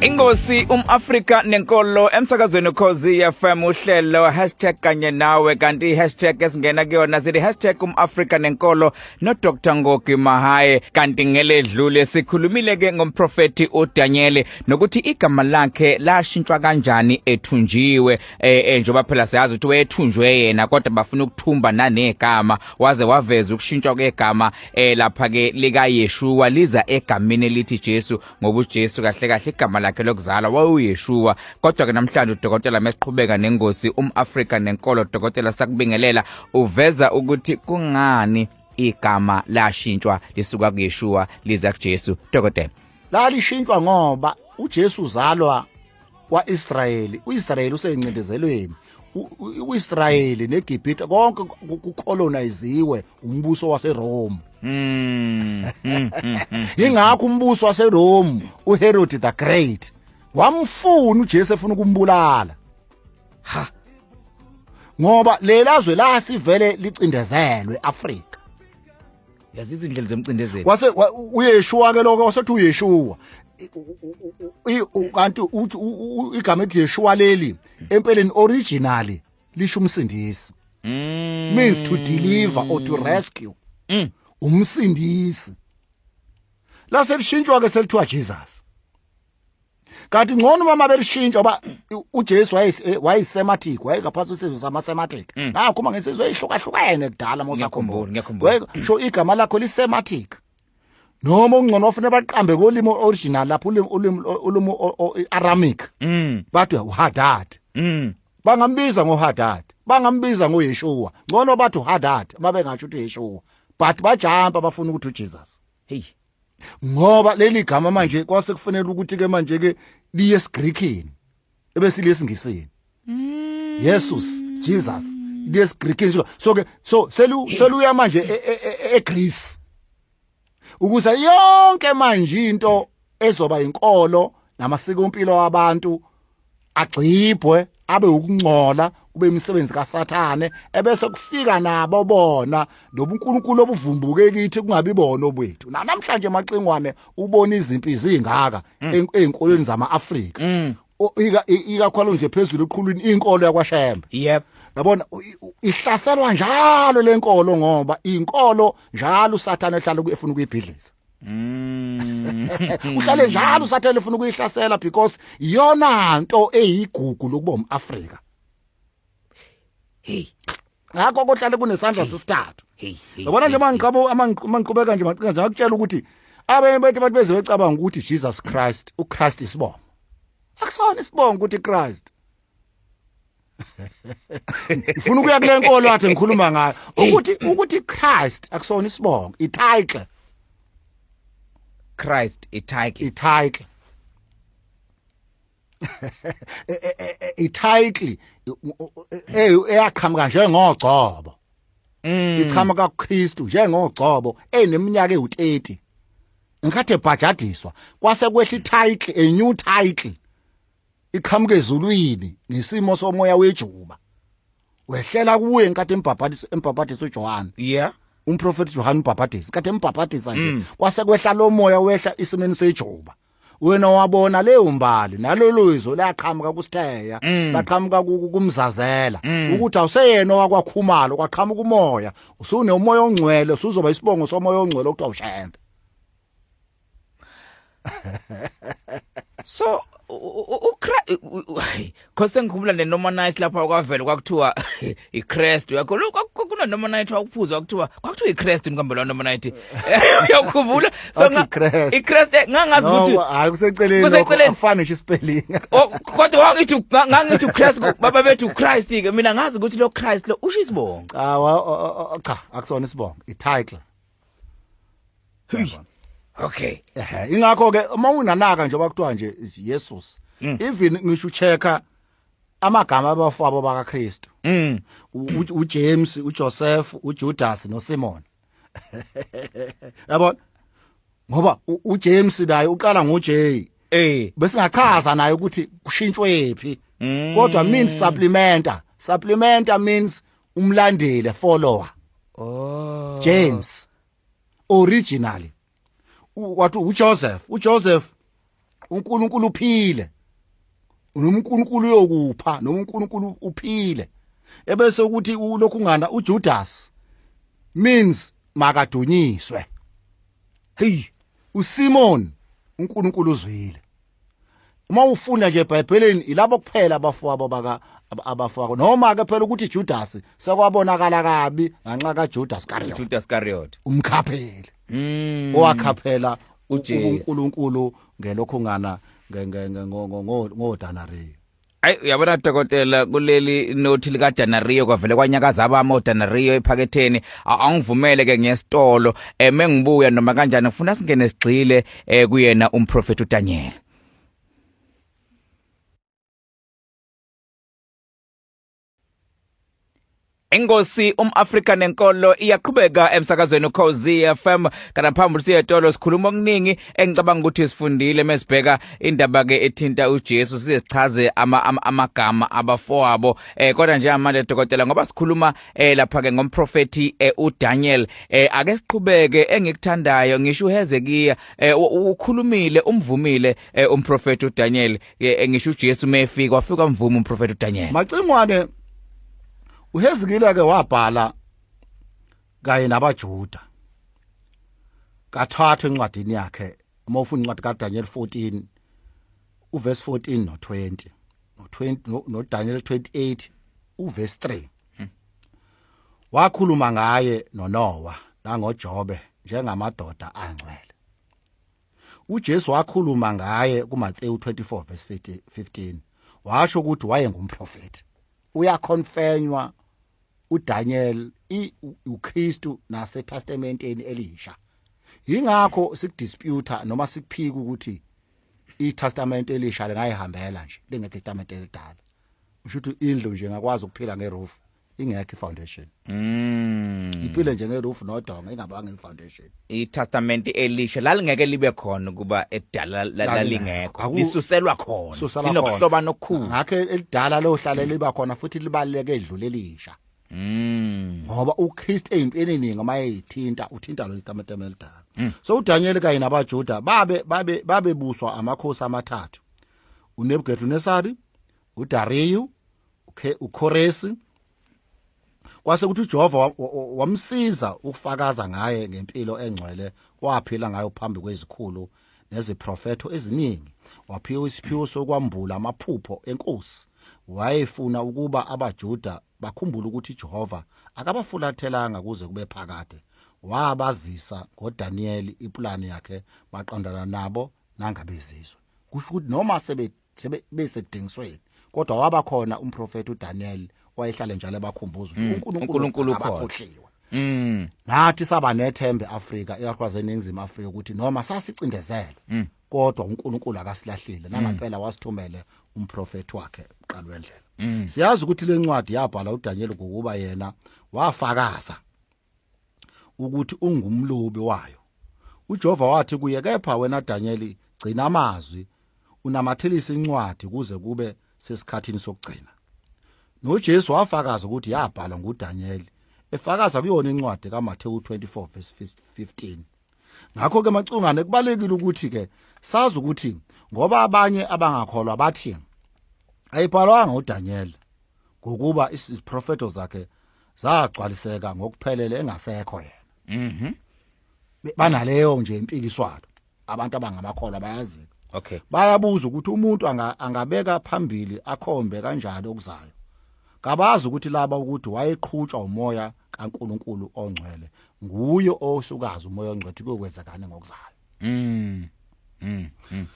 inkosi um-afrika nenkolo emsakazweni ukhozi fm uhlelo hashtag kanye nawe kanti i-hashtag esingena kuyona zili hashtag um-afrika nenkolo nodr ngogi mahaye kanti ngeledlule sikhulumile-ke ngomprofethi udanyeli nokuthi igama lakhe lashintshwa kanjani ethunjiwe eh, eh njengoba phela siyazi ukuthi wethunjwe yena kodwa bafuna ukuthumba nanegama waze waveza ukushintshwa kwegama eh lapha ke lika Yeshua liza egamini elithi Jesu ngoba uJesu kahle kahle igama lakhe lokuzalwa wawuyeshua kodwa ke namhlanje udokotela mesiqhubeka nengosi umAfrika nenkolo dokotela sakubingelela uveza ukuthi kungani igama lashintshwa lisuka kuYeshua liza kuJesu dokotela lalishintshwa ngoba uJesu uzalwa kwa-israyeli u-israyeli useyincindezelweni u-israyeli negibhithe konke kukholonayiziwe umbuso waserome hmm, hmm, hmm, yingakho umbuso waserome uherodi the great wamfuna ujesu efuna ukumbulala ha ngoba lelazwe lasivele licindezelwe afrika yazi izindlela zemcindezeli wase wa- u- uyeshuwa ke lokho wasethi uyeshuwa I- u- u- u- i- u- kanti uthi u- u- u- igama ethi yeshuwa leli empeleni originally lisho umsindisi Mm. means to deliver or to rescue Mm. umsindisi laselishintshwa ke selithiwa Jesus kanti ngcono uma belishintsha ngoba uJesu eh, wayisematic wayengaphansi kwesizwe samasematic mm. ngakho uma ngesizwe eyihlukahlukene kudala uma usakhumbula sho igama lakho lisematic noma ungcono wafuna baqambe kolimi original lapho ulimi ulimi ulimi aramic mm. bathi uhadad mm. bangambiza ngohadad bangambiza ngoyeshuwa ngcono bathi uhadad uma bengasho ukuthi yeshuwa but bajampa bafuna ukuthi ujesus hey ngoba leli gama manje kwase kufanele ukuthi ke manje ke liye esiGreekini ebesiliye esingisini mm. Jesus Jesus liye esiGreekini so so ke so selu seluya manje e, e, e, eGreece ukuze yonke manje into ezoba inkolo namasiko empilo abantu agxibhwe abe ukungcola kube imisebenzi kaSathane ebese kufika nabo bona nobuNkulunkulu obuvumbuke kithi kungabi bona obwethu namhlanje macingwane ubona izimpi zingaka mm. ezinkolweni zamaAfrika mm. ikakhulu nje phezulu eqhulwini inkolo yakwashembe yep yabona ihlaselwa njalo lenkolo ngoba inkolo njalo uSathane ehlala efuna ukuyibhidliza Mm. uhlale njalo usathele ufuna ukuyihlasela because iyona nto eyigugu lokuba umAfrika hey ngakho kohlale kunesandla sesithathu hey hey yabona nje mangiqaba mangiqhubeka nje maqinga nje akutshela ukuthi abanye bethu abantu beze becabanga ukuthi Jesus Christ uChrist isibongo akusona isibongo ukuthi Christ ngifuna ukuya kule nkolo athi ngikhuluma ngayo ukuthi ukuthi Christ akusona isibongo ititle Christ ititle ititle ititle eyaqhamuka njengogcobo mm. iqhamuka kuKristu njengogcobo eneminyaka ewu30 ngikhathi ebhajadiswa kwase kwehla ititle a new title iqhamuke ezulwini ngesimo somoya wejuba wehlela kuye nkathi embhabhadisa embhabhadisa uJohane yeah umprofeti Johane umbhabhadisa nkathi embhabhadisa nje Mm. kwase kwehla lo moya wehla isimeni sejuba wena wabona leyo mbali nalolo izwe laqhamuka kusitheya Mm. laqhamuka ku- ku- kumzazela Mm. ukuthi awuseyena wakwakhumalo kwaqhamuka umoya usune umoya ongcwele usuzoba isibongo somoya ongcwele okuthiwa ushembe so khose ngikhumbula nenoma night lapha kwavela kwakuthiwa icrest uyakho kunanoma night wakuphuzwa kwakuthiwa kwakuthiwa icrest nikambe lona noma night uyakhumbula so icrest eh, ngangazi ukuthi hayi kuseceleni kuseceleni afana ngisho spelling oh, kodwa wangithi ngangithi ucrest baba bethu uchrist ke mina ngazi ukuthi lo christ lo usho isibongo ah cha akusona isibongo ititle okay ehe ingakho ke uma unanaka nje bakuthiwa nje Jesus hmm. even ngisho checka amagama abafabo bakaKristu hmm. uJames uJoseph uJudas noSimon yabona ngoba uJames naye uqala ngoJ eh besingachaza naye ukuthi kushintshwe phi hmm. kodwa means supplementa supplementa means umlandeli follower oh James originally wathi uJoseph uJoseph uNkulunkulu uphile noNkulunkulu uyokupha noNkulunkulu uphile ebese ukuthi ulokhu ngana uJudas means makadunyiswe hey uSimon uNkulunkulu uzwile uma ufunda nje ebhayibhelini ilabo kuphela abafowabo baka abafowabo noma ke phela ukuthi Judas sekwabonakala kabi nganxa kaJudas Iscariot Judas Iscariot umkhapheli mm. owakhaphela uNkulunkulu ngelokho ngana ngodanare ayi uyabona dokotela kuleli nothi likadanario kwavele kwanyakaza abami odanario ephaketheni angivumele ke ngiyesitolo um engibuya noma kanjani ngifuna singene sigxile um kuyena umprofethi udanyela Ingosi umAfrika nenkolo iyaqhubeka emsakazweni uKhozi FM kana phambili siyetolo sikhuluma okuningi engicabanga ukuthi sifundile mesibheka indaba ke ethinta uJesu size sichaze ama, ama, amagama abafowabo eh kodwa nje amanje dokotela ngoba sikhuluma eh lapha ke ngomprofeti eh, uDaniel eh ake siqhubeke engikuthandayo ngisho uHezekiya eh ukhulumile umvumile eh, umprofeti uDaniel ke ngisho uJesu mefika wafika mvuma umprofeti uDaniel macingwane uHezekile ke wabhala kanye nabaJuda kathathu encwadini yakhe uma ufuna incwadi kaDaniel 14 uverse 14 no 20 no 20 no Daniel 28 uverse 3 hmm. wakhuluma ngaye noNowa nangoJobe njengamadoda angcwele uJesu wakhuluma ngaye kuMathewu 24 verse 15 washo ukuthi wayengumprofethi uyakhonfenywa uDaniel uKristu naseTestamenteni elisha yingakho sikudisputa noma sikuphika ukuthi iTestament elisha lingayihambela nje lengethestament elidala usho ukuthi indlu nje ngakwazi ukuphila ngerufu ingekho ifoundation mm iphile njenge roof nodonga ingabanga ifoundation itestament elisha lalingeke libe khona kuba edala lalingekho lisuselwa khona linokuhloba nokukhulu ngakhe elidala lohlale mm. liba khona futhi libaleke edlule elisha Mm. Ngoba uKristu ezimpini eningi uma eyithinta uthinta lo itamatama elidala. Mm. So uDaniel kanye nabaJuda babe babe babebuswa amakhosi amathathu. UNebukadnesari, uDariyu, uKhoresi kwase ukuthi uJehova wamsiza ukufakaza ngaye ngempilo engcwele waphila ngayo phambi kwezikhulu neziprofetho eziningi waphiwa isiphiwo sokwambula amaphupho enkosi wayefuna ukuba abaJuda bakhumbule ukuthi uJehova akabafulathelanga kuze kube phakade wabazisa ngoDaniyeli ipulani yakhe maqondana nabo nangabezizwe kusho ukuthi noma sebedinga sebe besekudingisweni kodwa waba khona umprofeti uDaniel wayehlale njalo ebakhumbuza Mm, uNkulunkulu uNkulunkulu ukhona. akakhohliwe Mm. nathi saba nethembe eAfrika ikakhulukazi eningizimu Afrika ukuthi noma sasicindezelwe Mm. kodwa uNkulunkulu akasilahlile nangampela wasithumele umprofeti wakhe uqala wendlela Mm. siyazi ukuthi lencwadi yabhala uDaniel ngokuba yena wafakaza ukuthi ungumlobi wayo uJehova wathi kuye kepha wena Danyeli gcina amazwi unamathelise incwadi kuze kube sesikhathini sokugcina noJesu wafakaza ukuthi yabhalwa nguDanyeli efakaza kuyona incwadi kaMathewu 24 verse 15 ngakho ke macungane kubalekile ukuthi ke sazi ukuthi ngoba abanye abangakholwa bathi ayibhalwanga uDanyeli ngokuba iziprofeto zakhe zagcwaliseka ngokuphelele engasekho yena mhm Be- banaleyo nje impikiswano abantu abangamakholwa bayazi okay bayabuza ukuthi umuntu anga- angabeka phambili akhombe kanjani okuzayo kabazi ukuthi laba ukuthi wayeqhutshwa umoya kaNkuluNkulu ongcwele nguye osukazi umoya ongcwele ukuthi kuyokwenzekani ngokuzayo mm mm, mm.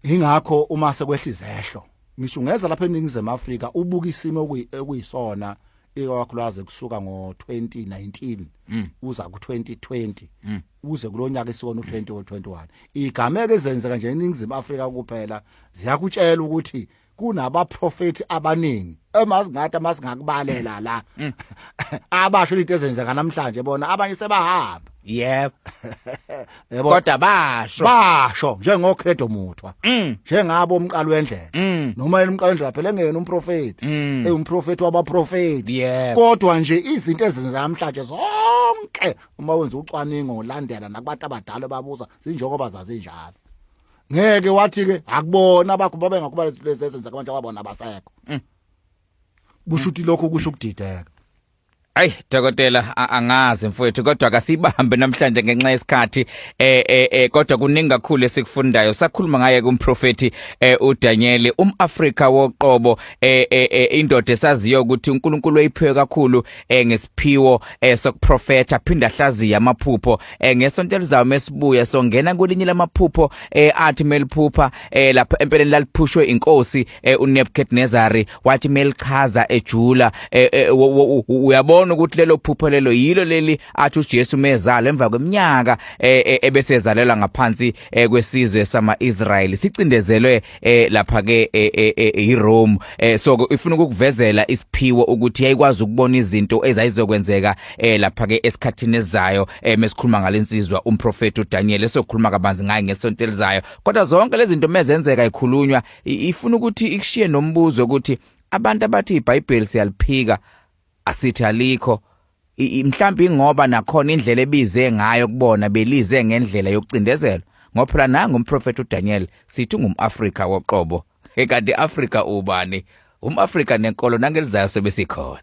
ingakho uma sekwehla izehlo ngisho ungeza lapha eningizimu Afrika ubuka isimo okuyisona ikakhulukazi kusuka ngo-2019 mm. uza ku-2020 mm. uze kulo nyaka isiwona u-2021 igameko ezenzeka nje eningizimu afrika kuphela ziyakutshela ukuthi kunabaprofethi abaningi emasingathi amasingakubalela la mm. abasho into ezenzeka namhlanje bona abanye sebahamba yebo yebo kodwa basho basho njengocredo muthwa mm. njengabo umqalo wendlela mm. noma yena umqalo wendlela phela engeyena umprofeti ewumprofeti wabaprofeti kodwa nje izinto ezenzeka namhlanje zonke uma wenza ucwaningo ulandela nakubantu abadala babuza zinjengoba zazinjalo ngeke wathi ke akubona bakho babe ngakuba lezenza abantu ababona abasekho mm. kushuthi lokho kusho ukudideka Ay dokotela angazi mfowethu kodwa akasibambe namhlanje ngenxa yesikhathi eh eh, eh kodwa kuningi kakhulu esikufundayo sakhuluma ngaye kumprofeti eh, uDaniel umAfrika woqobo eh, eh, eh indoda esaziyo ukuthi uNkulunkulu uyiphiwe kakhulu eh, ngesiphiwo eh, sokuprofeta phinda hlaziya amaphupho eh, ngesonto elizayo mesibuya songena kwelinye lamaphupho eh, athi meliphupha eh, lapho empeleni laliphushwe inkosi eh, uNebukadnezari wathi melichaza ejula eh, eh, uyabona ukuthi lelo phupho lelo yilo leli athi uJesu mezalo emva kweminyaka eh, eh, ebesezalelwa ngaphansi eh, kwesizwe sama-Israyeli sicindezelwe eh lapha ke eh, eh, eh, eRome eh so ke ifuna ukukuvezela isiphiwo ukuthi yayikwazi ukubona izinto ezayizokwenzeka eh lapha ke esikhathini ezayo eh mesikhuluma ngalensizwa umprofeti uDaniel esokhuluma kabanzi ngaye ngesonto elizayo kodwa zonke lezi zinto mezenzeka ikhulunywa ifuna ukuthi ikushiye nombuzo ukuthi abantu abathi iBhayibheli siyaliphika asithi alikho mhlawumbe ingoba nakhona indlela ebize ngayo kubona belize ngendlela yokucindezelwa ngoba phela nangu umprofethi uDaniel sithi ngumAfrika woqobo ekade Afrika ubani umAfrika nenkolo nangelizayo sebesikhona